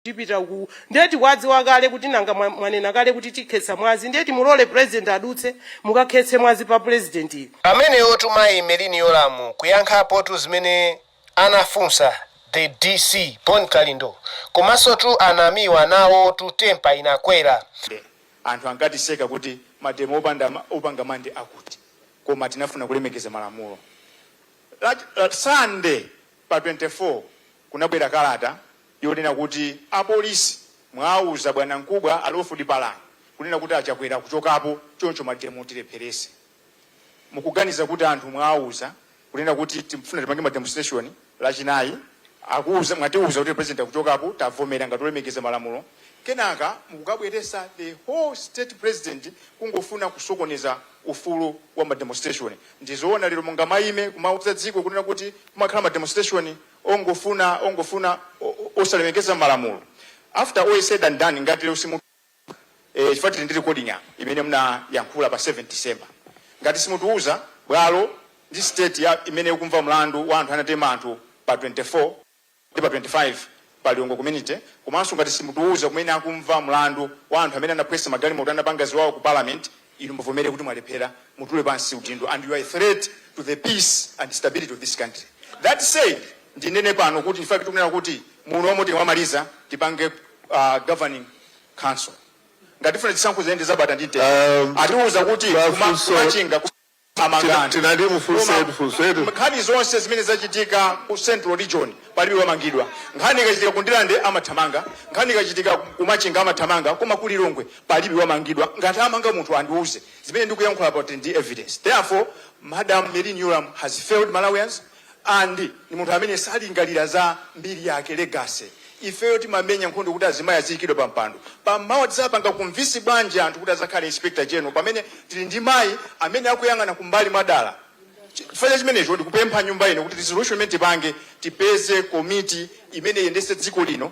tipita uku ndiye tikuwadziwa kale kuti nanga mwa- mwanena kale kuti tikhetsa mwazi ndiye timulole president adutse mukakhetse mwazi pa president uyu ameneyotu mayi Merlyne yolamu kuyankhapotu zimene anafunsa the dc bon kalindo komanso tu anamiwa nawo tu tempa inakwera anthu ankatiseka kuti mademo opanda ma- opanga mande akuti koma tinafuna kulemekeza malamulo Lat- lat- sande pa 24 kunabwera kalata yonena kuti apolisi mwauza bwanamkubwa a Lawford Palani kunena kuti a Chakwera akuchokapo choncho mademo tilepherese mukuganiza kuti anthu mwauza kunena kuti timfuna tipange ma demonstration lachinayi akuuza mwatiuza kuti president akuchokapo tavomera ngati olemekeza malamulo kenaka mukukabweresa the whole state president kungofuna kusokoneza ufulu wa ma demonstration ndizoona lero mungamaime kumauza dziko kunena kuti kumakhala ma demonstration ongofuna ongofuna osalemekeza malamulo after all is said and done ngati lero simu eh, chifukwa tili ndi recording apa imene mnayankhula pa 7 december ngati simutiuza bwalo ndi state yake imene ikumva mlandu wa anthu anatema anthu pa 24 ndi pa 25 pa Lilongwe community komanso ngati simutiuza kumene akumva mlandu wa anthu amene anaphwanya magalimoto anapanga ziwawa ku parliament Inu muvomere kuti mwalephera, mutule pansi udindo and you are a threat to the peace and stability of this country. That said, ndinene pano kuti in fact tikunena kuti muno omwe tikamamaliza tipange uh, governing council. Ngati tifuna zisankho ziyende zabata ndi mtendere. Um, Atiuza kuti kuma- Mafunso- kumachinga ku- thamangani tinati mufunse koma funso eti nkhani zonse zimene zachitika ku central region palibe wamangidwa nkhani ikachitika ku Ndirande amathamanga nkhani ikachitika ku machinga amathamanga koma ku lilongwe palibe wamangidwa ngati amanga munthu andiuze zimene ndikuyankhula pakuti ndi evidence therefore madam Merlyne Yolamu has failed malawians and ndi munthu amene salingalira za mbiri yake, legacy. ifeyo timamenya nkhondo kuti azimayi aziyikidwa pa mpando. pamawa tizapanga convince bwanji anthu kuti azakhale inspector general pamene tili ndi mayi amene akuyang'ana kumbali mwadala. chifukwa cha chimenecho ndikupempha nyumba ino kuti resolution imene tipange tipeze komiti imene iyendetse dziko lino.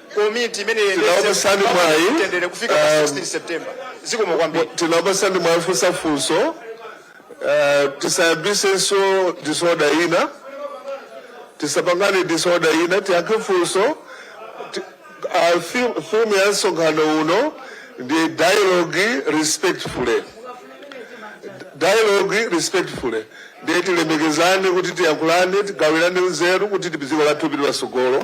komiti imene iyendetse Tinakupatsani mpaka mwayi, mtendere kufika pa um, 16 september zikomo kwambiri tinakupasani mwayi mwafunsa funso eh, tisayambisenso disorder ina tisapangane disorder ina tiyankhe funso Ti- ah, theme- theme ya msonkhano uno ndi dialogue respectfully dialogue respectfully ndiye tilemekezane kuti tiyankhulane tigawirane nzeru kuti dziko lathu lipite patsogolo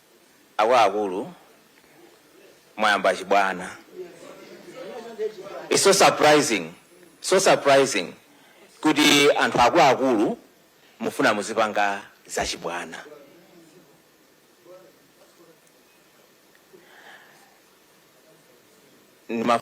Akuluakulu mwayamba chibwana. It's so surprising, so surprising kuti anthu akuluakulu mufuna muzipanga zachibwana. Ndima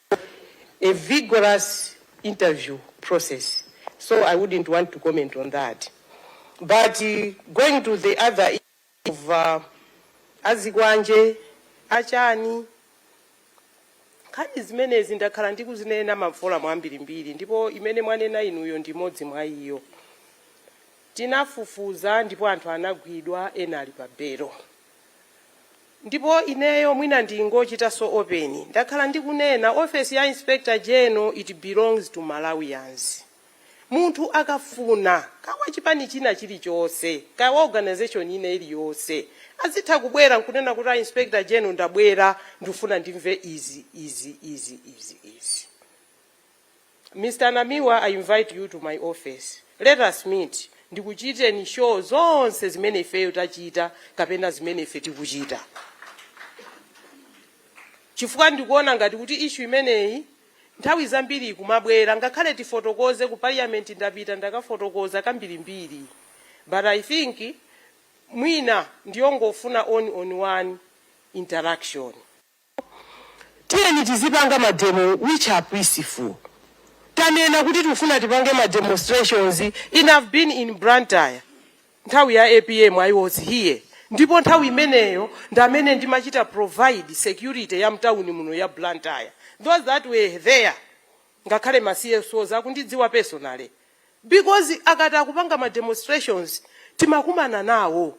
a vigorous interview process so I wouldn't want to comment on that but going to the other issue of azikwanje, achani, nkhani zimenezi ndakhala ndikuzinena ma forum ambirimbiri ndipo imene mwanena inuyo ndi imodzi mwa iyo. Tinafufuza ndipo anthu anagwidwa, ena ali pa belo. Ndipo ineyo mwina ndingochitanso open ndakhala ndikunena office ya inspector general it belongs to Malawians. Munthu akafuna kaya wa chipani china chilichonse kaya wa organisation ina iliyonse azitha kubwera nkunena kuti a inspector general ndabwera ndikufuna ndimve izi, izi, izi, izi, izi. Mr Namiwa I invite you to my office let us meet ndikuchiteni show zonse zimene ifeyo tachita kapena zimene ife tikuchita chifukwa ndikuona ngati kuti issue imeneyi nthawi zambiri ikumabwera ngakhale tifotokoze ku parliament ndapita ndakafotokoza kambirimbiri but i think mwina ndiyongofuna one on one interaction Ndipo tiyeni tizipanga ma demo which are peaceful. Tanena kuti tikufuna tipange ma demonstrations in I've been in Blantyre nthawi ya apm I was here ndipo nthawi imeneyo ndi amene ndimachita provide security ya mtauni muno ya Blantyre. Those that were there ngakhale ma CSOs akundidziwa personally because akati akupanga ma demonstrations timakumana nawo.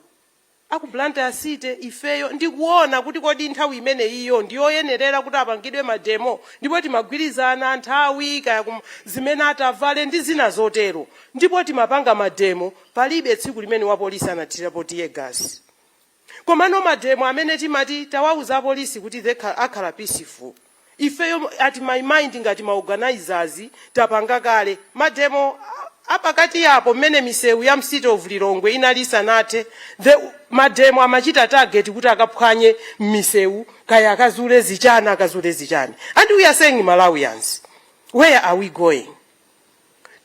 aku Blantyre city ifeyo ndikuona kuti kodi nthawi imeneyiyo ndiyoyenerera kuti apangidwe mademo ndipo timagwirizana nthawi kaya kum, zimene atavale ndi zina zotero ndipo timapanga mademo palibe tsiku limene wapolisi anathirapo tear gas komano mademo amene timati tawauza apolisi kuti akhala peaceful ifeyo at my mind ngati ma organisers tapanga kale ma demo apakati apo mmene misewu ya mcity of lilongwe inali isanathe ma demo amachita target kuti akaphwanye mmisewu kaya akazule zichani akazule zichani and we are saying malawians where are we going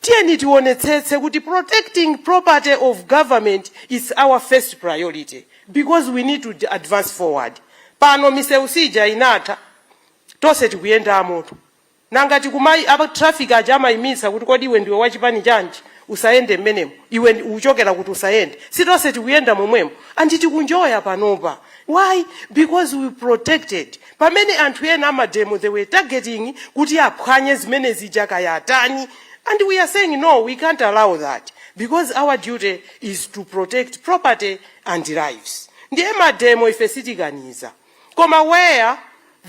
Tiyeni tionetsetse kuti protecting property of government is our first priority because we need to advance forward. Pano misewu si ija inatha, tonse tikuyendamotu. Nanga kuti kumayi apa traffic aja amaimitsa kuti kodi iwe ndiwe wa chipani chanji usayende mmenemo, iwe ndi- uchokera kuti usayende. Si tonse tikuyenda momwemo ndi tikuenjoya panopa. Why? Because we protected pamene anthu ena amademo they were targeting kuti aphwanye zimene zija kaya atani and we are saying no we can't allow that because our duty is to protect property and lives ndiye mademo ife sitikaniza, koma where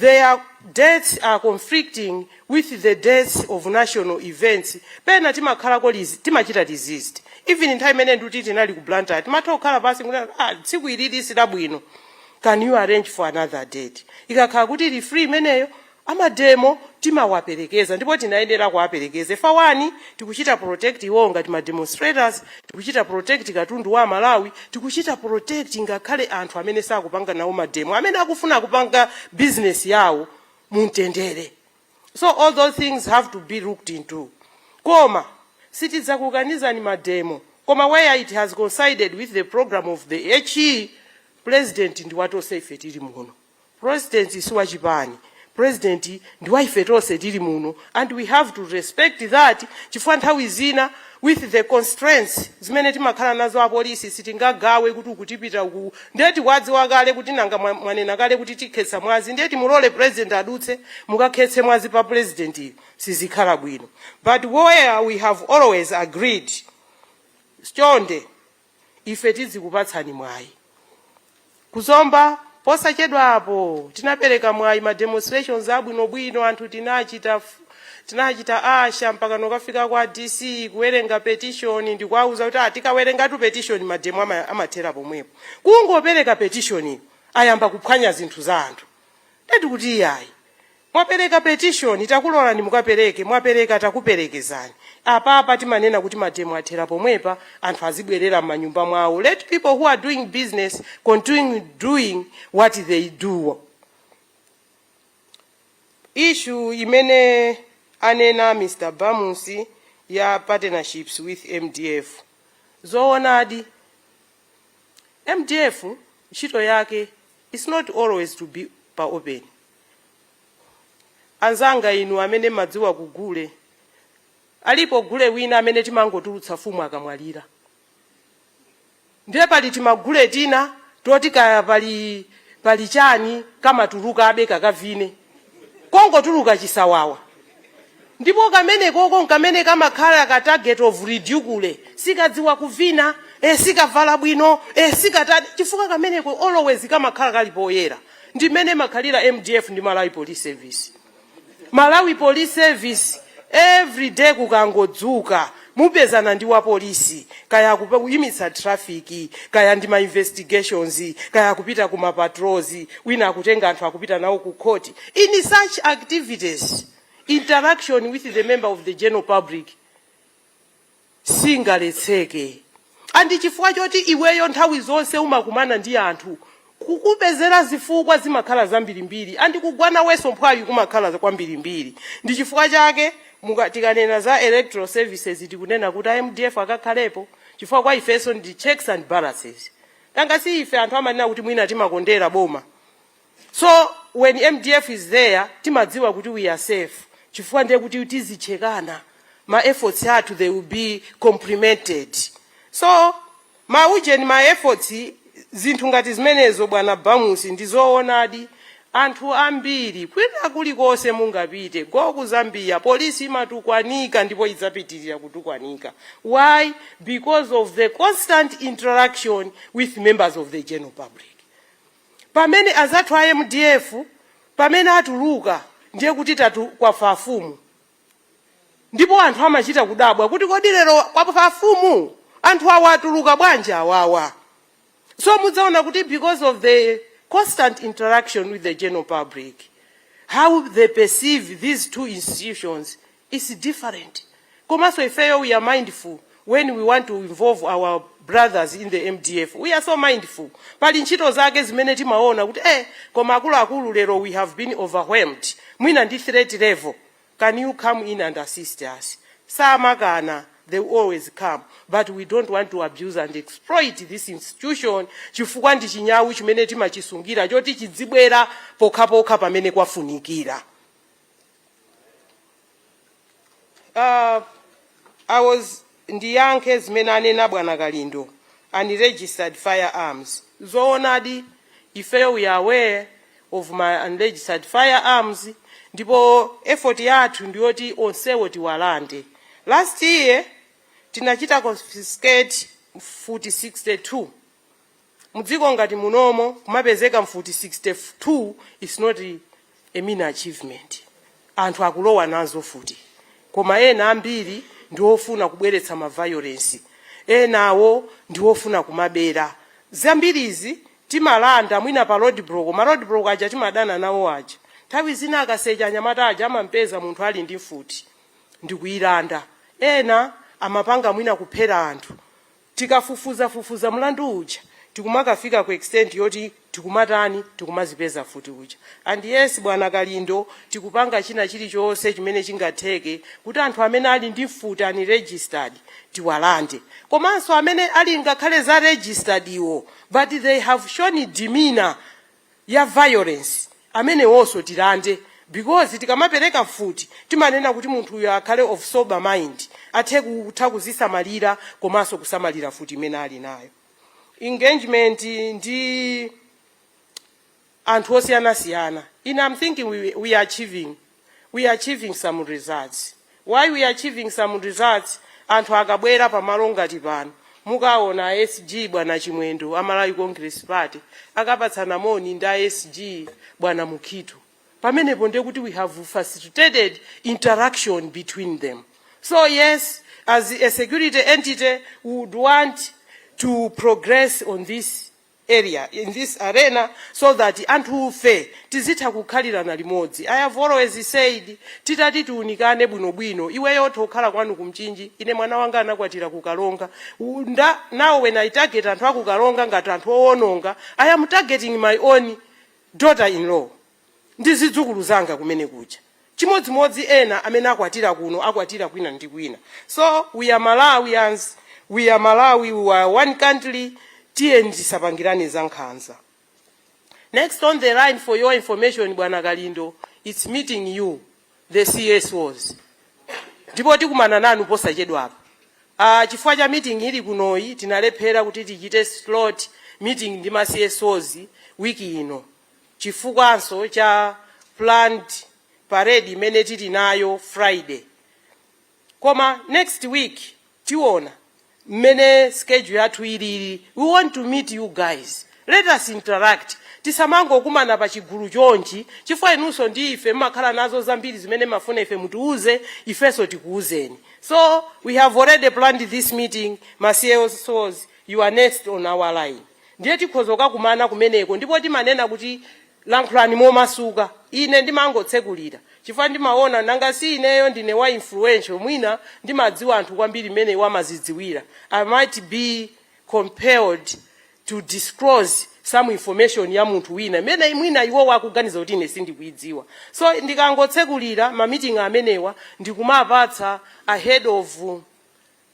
their dates are conflicting with the dates of national events pena timakhalako lizi- timachita resist even nthawi imene nduti tinali ku blantyre timatha kukhala pansi kuti ah, tsiku ili silabwino can you arrange for another date ikakhala kuti ili free imeneyo amademo timawaperekeza ndipo tinayenera kuwaperekeza for one tikuchita protect iwowo ngati ma demonstrators tikuchita protect katundu wa Amalawi tikuchita protect ngakhale anthu amene sakupanga nawo mademo amene akufuna kupanga business yawo mumtendere so all those things have to be looked into koma sitidzakukanizani mademo koma where it has coincided with the program of the HE president ndi watonse ife tili muno president si wachipani president ndi wa ife tonse tili muno and we have to respect that chifukwa nthawi zina with the constraints zimene timakhala nazo apolisi sitingagawe kuti uku tipita uku ndiye tikuwadziwa kale kuti nanga mwa- mwanena kale kuti tikhetsa mwazi ndiye timulole president adutse mukakhetse mwazi pa president sizikhala bwino but where we have always agreed chonde ife tidzikupatsani mwayi. Ku Zomba, posachedwa apo, tinapereka mwayi ma demonstrations abwinobwino, anthu tinachita, tinachita usher mpakana kukafika kwa DC, kuwerenga petition, ndikuwauza kuti ah, tikawerengatu petition mademo ama, amathera pomwepo. Kungopereka petition ayamba kuphwanya zinthu za anthu. Ndiye tikuti iyayi, Mwapereka petition takulolani mukapereke mwapereka takuperekezani. Apapa timanena kuti mademo athera pomwepa anthu azibwerera mmanyumba mwawo let people who are doing business continue doing what they do. Issue imene anena Mr Bamusi ya partnerships with mdf zowonadi mdf ntchito yake is not always to be pa open. Anzanga inu amene mmadziwa ku gule, alipo gule wina amene timangotulutsa mfumu akamwalira. Ndiye pali timagule tina toti kaya pali pali chani kamatulukabe kakavine kongotuluka chisawawa. Ndipo kamenekoko nkamene kamakhala ka target of ridicule, sikadziwa kuvina, eh, sikavala bwino, eh, sikatani, chifukwa kameneko always kamakhala kali poyera. Ndi mmene imakhalira mdf ndi Malawi Police Service. Malawi Police Service everyday kukangodzuka mupezana ndi wapolisi, kaya akuyimitsa traffic, kaya ndi ma investigations, kaya akupita ku ma patrols, wina akutenga anthu akupita nawo ku court, in such activities. interaction with the member of the general public singaletseke andi chifukwa choti iweyo nthawi zonse umakumana ndi anthu kukupezera zifukwa zimakhala zambirimbiri andi kugwa nawenso mphwayi kumakhala kwambirimbiri ndi chifukwa chake muka- tikanena za electoral services tikunena kuti a mdf akakhalepo chifukwa kwa ifenso ndi checks and balances nanga si ife anthu amanena kuti mwina timakondera boma So when mdf is there timadziwa kuti we are safe chifukwa ndiye kuti tizichekana ma efforts athu they will be complemented so ma ujeni ma efforts zinthu ngati zimenezo bwana bamusi ndi zoonadi anthu ambiri kwina kulikonse mungapite go ku zambia polisi imatukwanika ndipo idzapitirira kutukwanika why because of the constant interaction with members of the general public pamene azathu a mdf pamene atuluka ndiye kuti tatu kwafa afumu ndipo anthu amachita kudabwa kuti kodi lero kwafa afumu anthu awa atuluka bwanji awawa so mudzaona kuti because of the constant interaction with the general public how they perceive these two institutions its different komanso ifeyo we are mindful when we want to involve our brothers in the mdf we are so mindful pali ntchito zake zimene timaona kuti eh koma akuluakulu lero we have been overwhelmed mwina ndi threat level can you come in and assist us samakana they will always come but we don't want to abuse and exploit this institution chifukwa ndi chinyawu chimene timachisungira choti chidzibwera pokhapokha pamene kwafunikira Uh, I was ndiyankhe zimene anena bwana kalindo unregistered firearms zoonadi ifeyo we are aware of ma unregistered firearms ndipo effort yathu ndiyoti onsewo tiwalande last year tinachita confiscate mfuti 62 Mdziko ngati munomo kumapezeka mfuti 62 is not a mean achievement. Anthu akulowa nazo mfuti koma ena ambiri ndi ofuna kubweretsa ma violence, enawo ndi ofuna kumabera. Zambirizi timalanda mwina pa roadblock, ma roadblock aja timadana nawo aja. Nthawi zina akasecha anyamata aja amampeza munthu ali ndi mfuti ndikuilanda. Ena amapanga mwina kuphera anthu tikafufuzafufuza mlandu uja tikumakafika ku extent yoti tikumatani tikumazipeza mfuti zija and yes bwana kalindo tikupanga china chilichonse chimene chingatheke kuti anthu amene ali ndi mfuti unregistered tiwalande komanso amene ali ngakhale za registered zo but they have shown demeanour ya violence amenewonso tilande because tikamapereka mfuti timanena kuti munthuyo akhale of sober mind athe kutha kuzisamalira komanso kusamalira mfuti imene ali nayo engagement ndi anthu osiyanasiyana I am thinking we, we are achieving we are achieving some results. Why we are achieving some results? Anthu akabwera pamalo ngati pano mukaona a SG bwana Chimwendo a Malawi Congress Party akapatsana moni ndi a SG bwana Mukhito. Pamenepo ndiye kuti we have facilitated interaction between them. So yes, as a security entity, we would want to progress on this area in this arena so that anthufe tizitha kukhalirana limodzi. I have always said titati tiunikane bwinobwino, iweyo utha kukhala kwanu ku Mchinji, ine mwana wanga anakwatira ku Karonga, now when I target anthu a ku Karonga ngati anthu owononga, I am targeting my own daughter in law. ndi zidzukulu zanga kumene kuja chimodzimodzi ena amene akwatira kuno akwatira kwina ndi kwina so we are malawians we are malawi we are one country tiyeni tisapangirane za nkhanza next on the line for your information bwana kalindo its meeting you the csos ndipo tikumana nanu posachedwapa Ah, chifukwa cha meeting ili kunoyi tinalephera kuti tichite slot meeting ndi ma CSOs wiki ino chifukwanso cha planned parade imene tili nayo Friday koma next week tiona mmene schedule yathu ilili we want to meet you guys let us interact tisamangokumana pa chigulu chonchi chifukwa inunso ndi ife mmakhala nazo zambiri zimene mmafuna ife mutiuze ifenso tikuuzeni so we have already planned this meeting ma CSOs you are next on our line Ndiye tikhozoka kumana kumeneko, ndipo timanena kuti, Lankhulani momasuka. Ine ndimangotsekulira, chifukwa ndimawona, nanga si ineyo ndine wa influential, mwina ndimadziwa anthu kwambiri mmene iwo amazidziwira, I might be compelled to disclose some information ya munthu wina imene mwina iwowo akuganiza kuti ine sindikuidziwa. So, ndikangotsekulira ma meeting amenewa, ndikumapatsa a head of.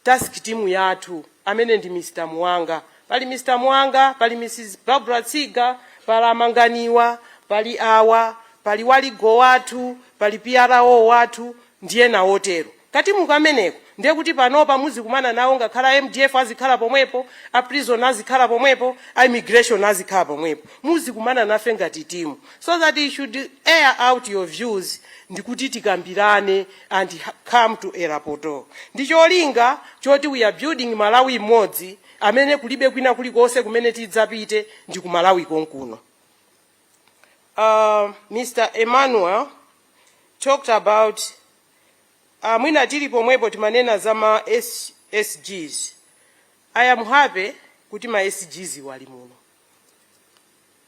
task team yathu amene ndi Mr Muwanga, pali Mr Muwanga, pali Mrs Barbra Tsiga, pala Manganiwa, pali awa, pali wa legal wathu, pali PRO wathu ndi ena otero. Katimu kameneko ndiye kuti panopa muzikumana nawo ngakhala mdf azikhala pomwepo, a prison azikhala pomwepo, a immigration azikhala pomwepo. Muzikumana nafe ngati timu so that you should air out your views ndikuti tikambirane and come to a rapport ndi cholinga choti we are building Malawi mmodzi amene kulibe kwina kulikonse kumene tidzapite ndi ku Malawi konkuno. Uh, Mr. Emmanuel talked about uh, mwina tili pomwepo timanena za ma SGs. I am happy kuti ma SGs wali muno.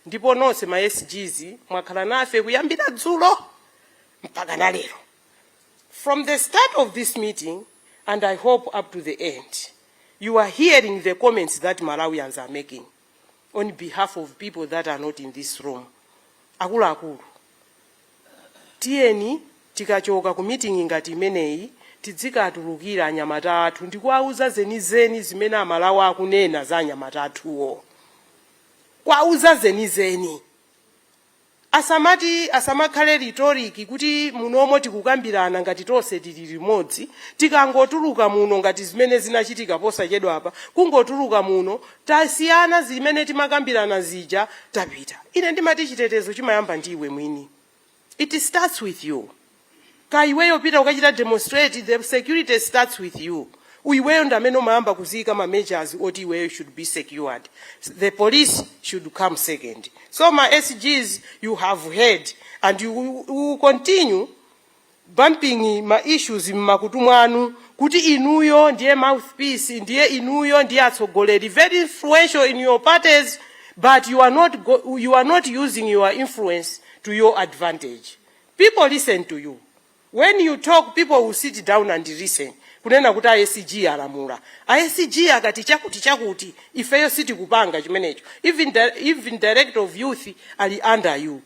ndipo nonse ma sgs mwakhala nafe kuyambira dzulo mpaka na lero from the start of this meeting and i hope up to the end you are hearing the comments that malawians are making on behalf of people that are not in this room akuluakulu Tiyeni tikachoka ku meeting ngati imeneyi tidzikatulukira anyamata athu ndikuwauza zenizeni zimene amalawi akunena za anyamata athuwo. Kuwauza zenizeni. Asamati asamakhale rhetoric kuti munomo tikukambirana ngati tonse tili limodzi. Tikangotuluka muno ngati zimene zinachitika posachedwapa kungotuluka muno tasiyana zimene timakambirana zija tapita ine ndimati chitetezo chimayamba ndi iwe mwini it starts with you ka iweyo pita ukachita demonstrate the security starts with you iweyo ndamene umayamba kuziyika ma measures oti iweyo should be secured the police should come second so ma sgs you have heard and you will continue bumping ma issues mmakutu mwanu kuti inuyo ndiye mouthpiece ndiye inuyo ndiye atsogoleri very influential in your parties but you are not, you are not using your influence to your advantage people listen to you when you talk people will sit down and listen kunena kuti asg alamula asg akati chakuti chakuti ifeyo sitikupanga chimenecho even, di- even director of youth ali under you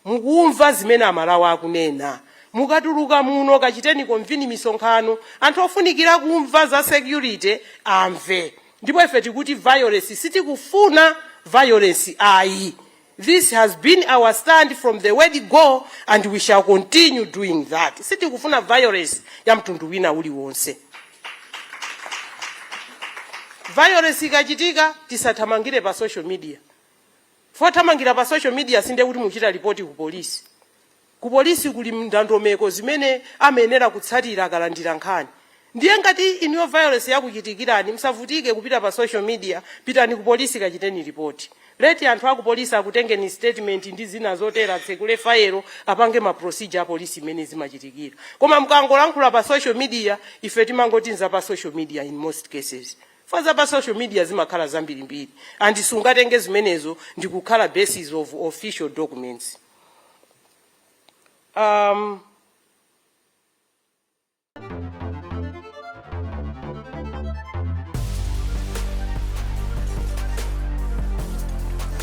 Mukumva zimene amalawi akunena? Mukatuluka muno kachiteni convene misonkhano. Anthu ofunikira kumva za security amve. Ndipo ife tikuti violence sitikufuna violence ayi. This has been our stand from the word go and we shall continue doing that. Sitikufuna violence ya mtundu wina uliwonse. Violence ikachitika tisathamangire pa social media. Pothamangira pa social media si ndiye kuti mukuchita report ku police. Ku police kuli ndondomeko zimene amayenera kutsatira akalandira nkhani. Ndiye ngati inuyo violence yakuchitikirani musavutike kupita pa social media, pitani ku police kachiteni report. Let anthu aku police akutengeni statement ndi zina zotero atsekule fayelo apange ma procedure a police mmene zimachitikira. Koma mukangolankhula pa social media ife timangoti nza pa social media in most cases. Chifukwa za pa social media zimakhala zambirimbiri and sungatenge zimenezo ndi kukhala basis of official documents. Um,